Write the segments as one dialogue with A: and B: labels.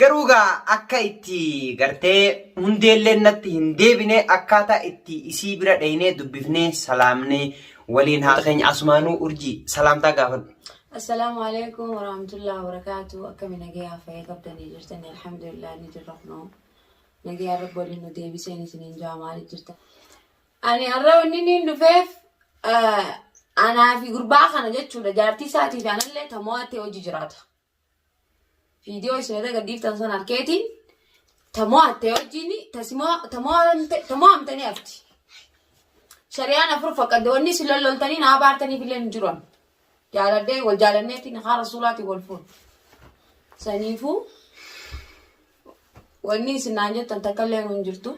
A: Garuu gaa akka itti gartee hundeelleen natti hin deebine akkaataa itti isii bira dhaynee dubbifnee salaamnee waliin haa keenya asumaanuu urjii salaamtaa gaafadhu. Assalaamu alaikum
B: warahmatullahi wabarakatuh akkami nagayaa fayya qabdanii jirtanii alhamdulillah ni jirra kunoo nagayaa rabbi waliin nu deebiseen isiniin jaa maali jirta ani har'a wanni niin dhufeef anaa fi gurbaa kana jechuudha jaartii isaatii fi anallee tamoo attee hojii jiraata Viidiyoo isin irra gadhiiftan sana arkeetiin ta mo'atte wajjin ta si mo'a- ta mo'amte ta mo'amtanii hafti. Shari'aan afur fakkadde wanni isin lolloltanii naa baartaniif illee hin jiru. amma. Jaaladhee wal jaalanneetiin haa rasuulaatiin wal fuudhu. Saniifuu Wanni isin naan jettan takkallee nu hin jirtu.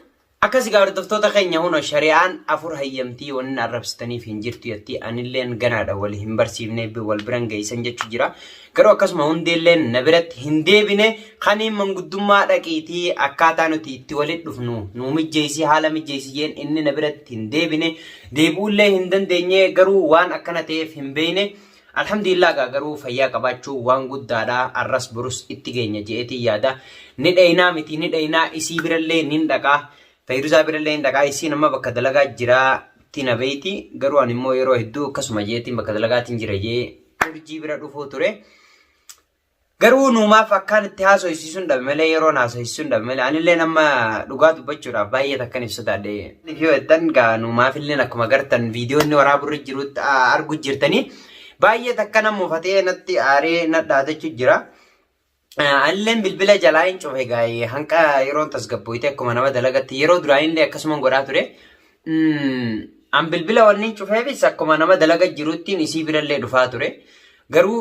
B: Akkas egaa hordoftoota
A: keenya huno shari'aan afur hayyamtii wanni arrabsitaniif hin jirtu yattii anilleen ganaadha wal hin barsiifne wal biran geessan jechu jira. Garuu akkasuma hundeelleen na biratti hin deebine kaniin manguddummaa dhaqiitii akkaataa nuti itti walit dhufnu nu mijjeessi haala mijjeessi jeen inni na biratti hin deebine deebi'ullee hin dandeenye garuu waan akkana ta'eef hin beeyne Alhamdulillah gaa garuu fayyaa qabaachuu waan guddaadha arras borus itti geenya je'eetiin yaada ni dheeynaa miti ni dheeynaa isii birallee nin dhaqaa fayyiruzaa birallee nin dhaqaa isiin amma bakka dalagaa jiraa tina beeyti garuu ani immoo yeroo hedduu akkasuma je'eetiin bakka dalagaatiin jira jee urjii bira dhufuu ture Garuu nuu maaf akkaan itti haasoysiisuun dhabe malee yeroon haasoysiisuun dhabe malee anillee nama dhugaa dubbachuudhaaf baay'ee takkan ibsa taadhe. Yoo jettan gaa nuu maafillee akkuma gartan viidiyoonni waraaburri jirutti argu jirtanii baay'ee takka nama mufatee natti aaree nadhaadachu jira. Anilleen bilbila jalaa hin cufe gaa'ee hanqa yeroon tasgabbooyte akkuma nama dalagatti yeroo duraanillee akkasuma godhaa ture. An bilbila wanni hin cufeefis akkuma nama dalaga jiruttiin isii birallee dhufaa ture. Garuu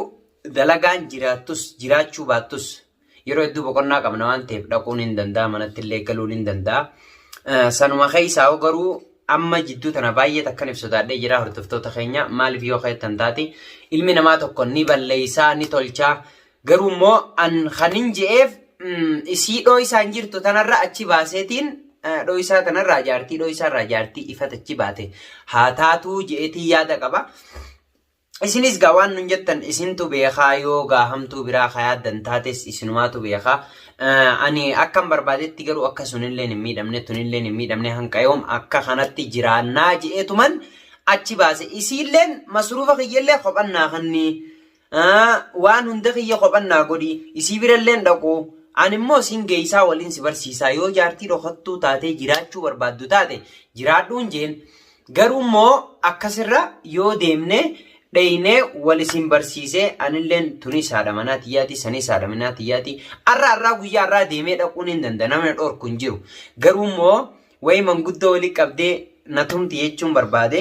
A: Dalagaan jiraattus jiraachuu baattus yeroo hedduu boqonnaa qabna waan ta'eef dhaquun hin danda'a manatti illee galuun hin danda'a. Sanuma keessaa hoo garuu amma jidduu tana baay'ee takkan ibsu taadhee jira hordoftoota keenya maaliif yoo keettan taate ilmi namaa tokko ni balleessaa ni tolchaa garuu immoo an kan hin je'eef isii dhooysaan jirtu tanarra achi baaseetiin dhooysaa tanarraa jaartii dhooysaarraa jaartii ifat achi baate haa taatuu je'eetii yaada qaba. Isinis gaa waan nun jettan isintu beekaa yoo gaa hamtuu biraa ka yaaddan taates isinumaatu beekaa. Eh, Ani akkan barbaadetti garuu akka sunilleen hin miidhamne tunilleen hin miidhamne hanqa yoom akka kanatti jiraannaa je'eetuman achi baase. Isiilleen masruufa kiyyallee kophan naa kanni. Eh, Waan hunda kiyya kophan naa godhi. Isii biralleen dhaqu. Ani immoo siin geeysaa waliin si barsiisaa yoo jaartii dhokattuu taatee jiraachuu barbaaddu taate jiraadhuun jeen. Garuu immoo akkasirra yoo deemne dheeynee wal isin barsiisee anilleen tunis haadha manaa tiyyaati sanis haadha manaa tiyyaati arra arraa guyyaa arraa deemee dhaquun hin danda namni dhorku hin jiru garuu immoo wayi manguddoo wali qabdee na tumti jechuun barbaade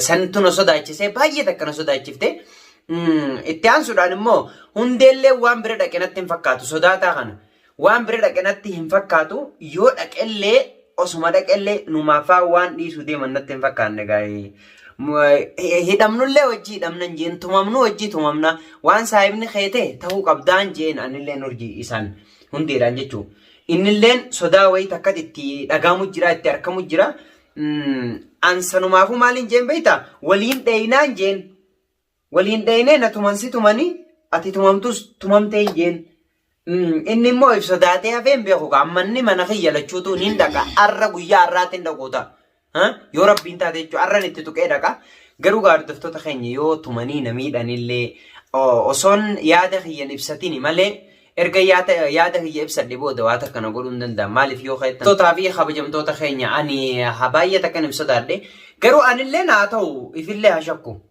A: santu na sodaachisee baay'ee takka na sodaachifte itti aansuudhaan immoo hundeellee waan bira dhaqe natti hin fakkaatu sodaataa kana Waan bira dhaqe natti hin fakkaatu yoo dhaqellee osuma dhaqellee numaafaa waan dhiisu deeman natti hin fakkaanne gaa'ee. Hidhamnullee wajjii hidhamnan jeen tumamnu wajjii tumamna waan saahibni kee ta'e ta'uu qabdaan jeen anilleen urjii isaan hundeedhaan jechuu. Innilleen sodaa wayii takkatti itti dhagaamu jira itti arkamu jira. Ansanumaafuu maaliin jeen beektaa waliin dheeynaan jeen. Wal hin dhayne na tuman si tumanii ati tumamtus tumamtee hin jeen. Inni immoo if sodaatee hafee hin beeku kaa amma inni mana kiyya lachuutu niin dhaqa arra guyyaa arraatti hin dhaquu ta'a. Yoo rabbiin taate jechuudha arran itti tuqee dhaqa. Garuu gaardoftoota keenya yoo tumanii na miidhanillee osoon yaada kiyyan ibsatini malee erga yaada kiyya ibsadhe booda waa takka na godhuu hin danda'an maaliif yoo keettan. Tootaa fi kabajamtoota keenya ani baay'ee takkan hin sodaadhe garuu anillee naa ta'u ifillee haa shakku.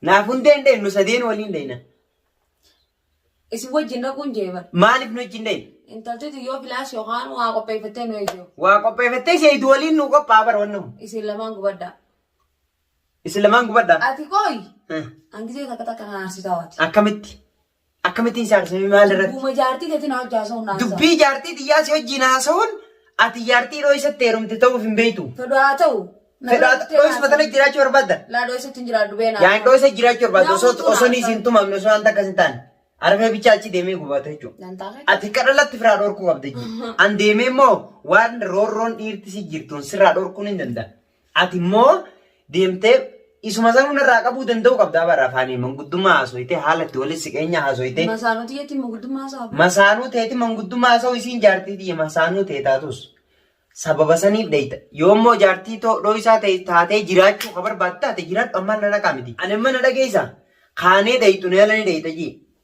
B: Naaf hundee
A: hin dheednu sadeen waliin dheedna.
B: Isin wajjin dhaquun jee bara. Maaliif nu wajjin dheedna?
A: Intaltitu yoo filaas
B: yookaan waa qopheeffattee nu eegdu. Waa qopheeffattee seeyitu
A: waliin nu qophaa'a bara wanna kun. Isin lamaan
B: gubaddaa.
A: Isin lamaan gubaddaa. Ati qooyi.
B: Angisee takka takka kan aarsitaa waati. Akkamitti?
A: Akkamitti hin saarsifne maal irratti? Dubbuma jaartii teetiin hojii
B: haasa'uun naan sa'a. Dubbii jaartii xiyyaa si
A: wajjin haasa'uun ati jaartii yeroo isatti heerumte ta'uuf hin beektu. Fedhu haa ta'u. na
B: Fedhaa bira dhuftee dhooyisuma
A: tana haasa'u. jiraachuu barbaadda? Laa dhooyisa ittiin jiraadhu
B: beenaa. Yaa hin dhooyisa jiraachuu barbaadda
A: osoo Namoota osoo naaf hin tumamne osoo wanta akkas hin taane. Arfee bichaa achi deemee gubata jechuudha. Nan taa'ee. Ati kadhalatti firaa dhorkuu qabda jechuudha. An deemee immoo waan roorroon dhiirti si jirtuun sirraa dhorkuun hin danda'a. Ati immoo deemtee isuma sanuu narraa qabuu danda'uu qabdaa bara afaanii manguddummaa haasoytee haala itti walitti siqeenya haasoytee Masaanuu tiyyatiin
B: manguddummaa haasa'a. masaanuu teeti
A: manguddummaa haasa'u isiin jaartii tiyya masaanuu tee taatus sababa saniif dheeyta yoo immoo jaartii too dhooysaa ta'e taatee jiraachuu ka barbaaddu taate jiraadhu ammaan na dhaqaa miti ani amma na dhageeysa kaanee dheeytu na yaalanii dheeyta jii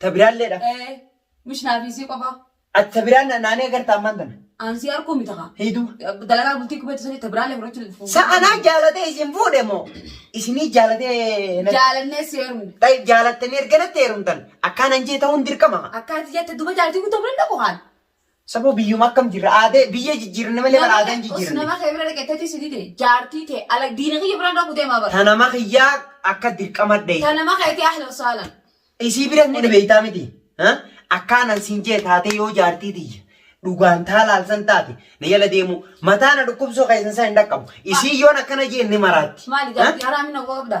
B: Ta biraalleedha. Ee,
A: mish
B: naa fi isii qofaa. Ati ta biraa na-
A: naanee agarta ammaan tana. Aan sii arkuu miti kaa.
B: Heyduu. Dalagaa
A: bultii kubeetu
B: sanii ta biraallee fudhachuu dandeessu. Sa anaa jaalatee
A: isin fuudhe moo? Isinii jaalatee na- Jaalannee si
B: heerumne. Tayyib jaalattanii erga natti
A: heerumtan akkaan anjee ta'uun dirqama. Akkaati jette duba
B: jaaltii guutuu fudhan dhaqu kaan. Saboo biyyuma
A: akkam jirra aadee biyya jijjiirranne malee bara aadaan jijjiirranne. Nama kee bira dhaqee teetii si
B: dide jaartii tee ala diina kiyya biraan dhaqu deemaa bara. Ta nama kiyyaa
A: akka dirqama dhee. Ta nama keetii ahlan
B: saalan. Isii biras ni
A: dhabeeytaa miti. Ha? Akkaanan siin jee taatee yoo jaartii tiyya. Dhugaan taa laalsan taate na jala deemuu mataa na dhukkubsuu keessan isaa hin dhaqqabu. Isii yoon akkana jeen ni maraatti. Maali Ha? jaartii haraa minna
B: uwwa qabda.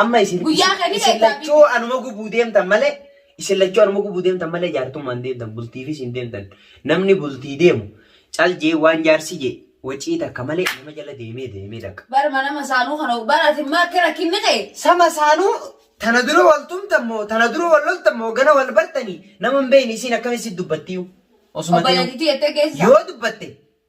B: Amma isin
A: Guyyaa kan isin lachuu anuma gubuu deemtan malee isin lachuu anuma gubuu deemtan malee jaartummaan deemtan bultiifis hin deemtan. Namni bultii deemu cal jee waan jaarsi jee wacii takka malee nama jala deemee deemee dhaqa. Bar mana masaanuu kana
B: bar ati immoo akka rakkinni kee. Sama saanuu
A: tana dura wal tumtan moo tana dura wal loltan moo gana wal bartanii nama hin beekne isiin akkamitti dubbattiyu osuma ta'e Obboleettiitti
B: jettee geessisa. yoo dubbatte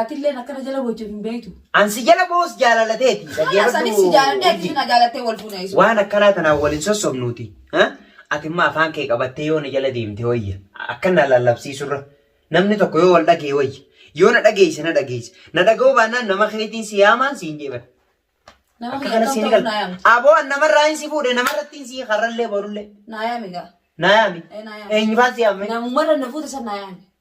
A: Atilleen akkana jala
B: boochu hin beektu. An si jala boos
A: jaalala teeti. Haala Dhaggeeffadhu sanis si jaaladhee
B: ati urjii. na jaalattee wal fuuna isu. Waan akkanaa tanaan wal hin
A: sossobnuuti. ha? Ati immoo afaan kee qabattee yoo na jala deemte wayya. Akka na lallabsiisurra. Namni tokko yoo wal dhagee wayya. Yoo na dhageesse na dhageesse. Na dhaga'uu baannaan nama keetiin si yaamaan siin jeeban. Nama Akka kiyya
B: kana kam siin ta'uu gal. naa yaamti. Aboo an namarraa hin si
A: fuudhe namarrattiin si karrallee borullee. Naa yaami gaa.
B: Naa yaami. Eh, naa
A: yaami. Eenyufaan si yaame? Namumarra na fuute san naa
B: yaami.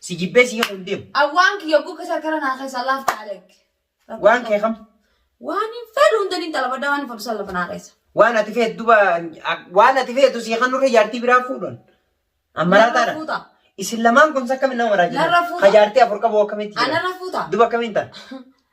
A: Si jibbee si himuun deemu. Awwaan kiyya oguu keessa
B: harkara naa keessa laaf taalek. Waan kee kam?
A: Waan hin fedhu
B: hunda ni intala baddaa waan hin fedhu san lafa naa keessa. Waan ati feetu
A: duba waan ati feetu si kan nurra jaartii biraa fuudhan. Ammaraataadha. Fuuta. Isin lamaan kun akkamiin nama maraa Narra fuuta. Ka jaartii afur qabu akkamitti jira? Anarra fuuta. Duba akkamiin
B: ta'a?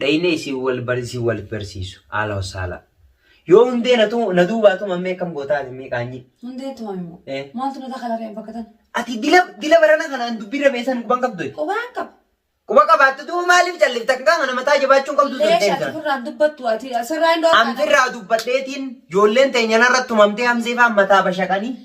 A: Dhayne isin wal bar isin wal barsiisu. Haala wasaala. Yoo hundee na tu- na duubaa tuman mee akkam gootaa ati mee qaanyii. Hundee tumame moo?
B: Eh. Maaltu na takala re'een bakka tan? Ati dila dila
A: barana kanaan dubbii rameessan quban qabdu. Qubaan qaba.
B: Quba qabaatte
A: duuba maaliif callifta akka qaama nama taa jabaachuun qabdu Leesha turte. ati firraan
B: dubbattu ati sirraa hin dhoofne. Amfirraa dubbadheetiin
A: ijoolleen teenya narratti tumamtee hamzee faan mataa bashaqanii.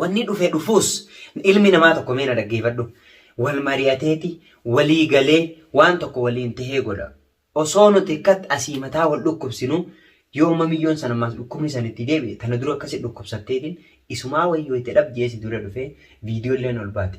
B: Wanni dhufe
A: dhufuus ilmi namaa tokko mee na dhaggeeffadhu. Wal mari'ateeti, walii galee waan tokko waliin tahee godha. Osoo nuti akkat asii mataa wal dhukkubsinu yoo mamiyyoon san ammaas dhukkubni san itti deebi'e tana dura akkasi dhukkubsatteetiin isumaa wayyoo itti dhab je'ee si dura dhufee viidiyoo illeen ol baate.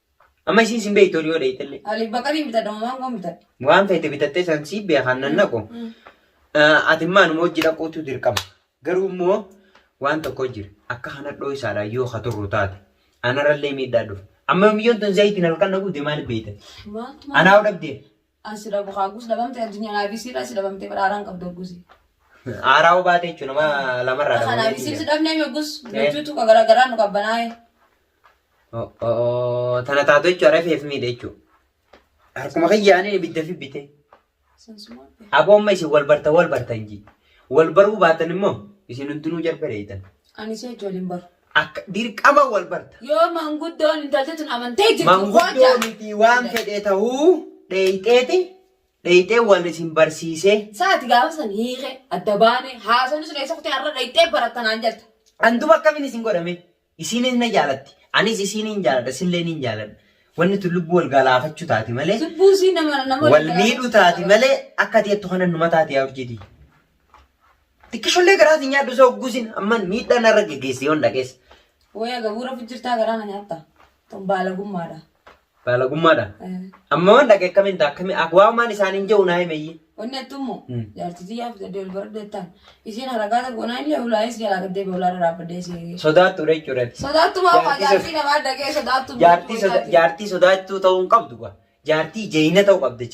A: Amma isiin sin beektu yoo dheeytallee. Ali baqarii bitadha
B: waan koon bitadha. Waan feete bitattee san
A: sii beekan nan naqu. Ati maanuma hojii dhaquutu dirqama. Garuu immoo waan tokko jira. Akka kana dhooysaadha yoo ka turru taate. Anarrallee miidhaa dhufa. Amma miyyoon tun zayitiin halkan na gubde maaliif beeytan? Anaa
B: dhabdee.
A: An si dhabu kaa
B: gus dhabamte addunyaa naa fi siirraa si dhabamte bara aaraan qabdu gusi. Aaraa
A: hubaate jechuun nama lamarraa Kana dhabamee fi siirri si dhabnee
B: mee gus
A: nuchuutu
B: ka garaa garaa nu qabbanaa'e.
A: Tana taatu jechuun rafeef miidhe jechuun. Harkuma kiyyaanii ibidda fi bite. Sansumaa.
B: Aboo amma isin wal
A: bartan wal bartan ji. Wal baruu baatan immoo isin hundinuu jarbereeytan. Ani si wajji waliin
B: baru. Akka dirqama
A: wal barta. Yoo manguddoon
B: intalti tun amantee jirtu Manguddoo hojjaa. miti
A: waan fedhe ta'uu dheeyxeeti dheeyxee wal isin barsiisee. Saati gaafa san
B: hiike adda baane haasofni sun eessa kutee har'a dhayxee baratta naan jetta. An duba akkamiin isin
A: godhame? Isiinis na jaalatti. Anis isiin hin jaaladha, isillee hin jaaladha. Wanni tun lubbuu wal galaafachuu taati malee, Lubbuu isii nama nama
B: wal miidhuu taati
A: malee akka ati jettu kana numa taati yaa urjiitii. Xiqqishollee garaa si nyaadhu isa ogguusin amma miidhaa narra geggeessi yoon dhagees. Waya gabuura
B: fijjirtaa garaa na nyaatta. Tun baalagummaadha. Baalagummaadha.
A: Eh, Amma waan dhage akkamiin ta'a akkamiin akka waan maan isaaniin jehu naa himeeyyi. Wanni attummoo Mm.
B: jaartitii yaaf jedhee ol baradhu jettaan. Isiin haragaata goonaa illee hulaayis jalaa gaddee beelaa irraa dhaabbadee si. Sodaattuudha jechuudha.
A: Sodaattumaa fa'aa Jaartii
B: jaartii namaa dhagee sodaattu.
A: Jaartii soda- jaartii sodaattuu ta'uu
B: hin
A: qabdu kwa. Jaartii jeeyina
B: ta'uu
A: qabdi jechuudha.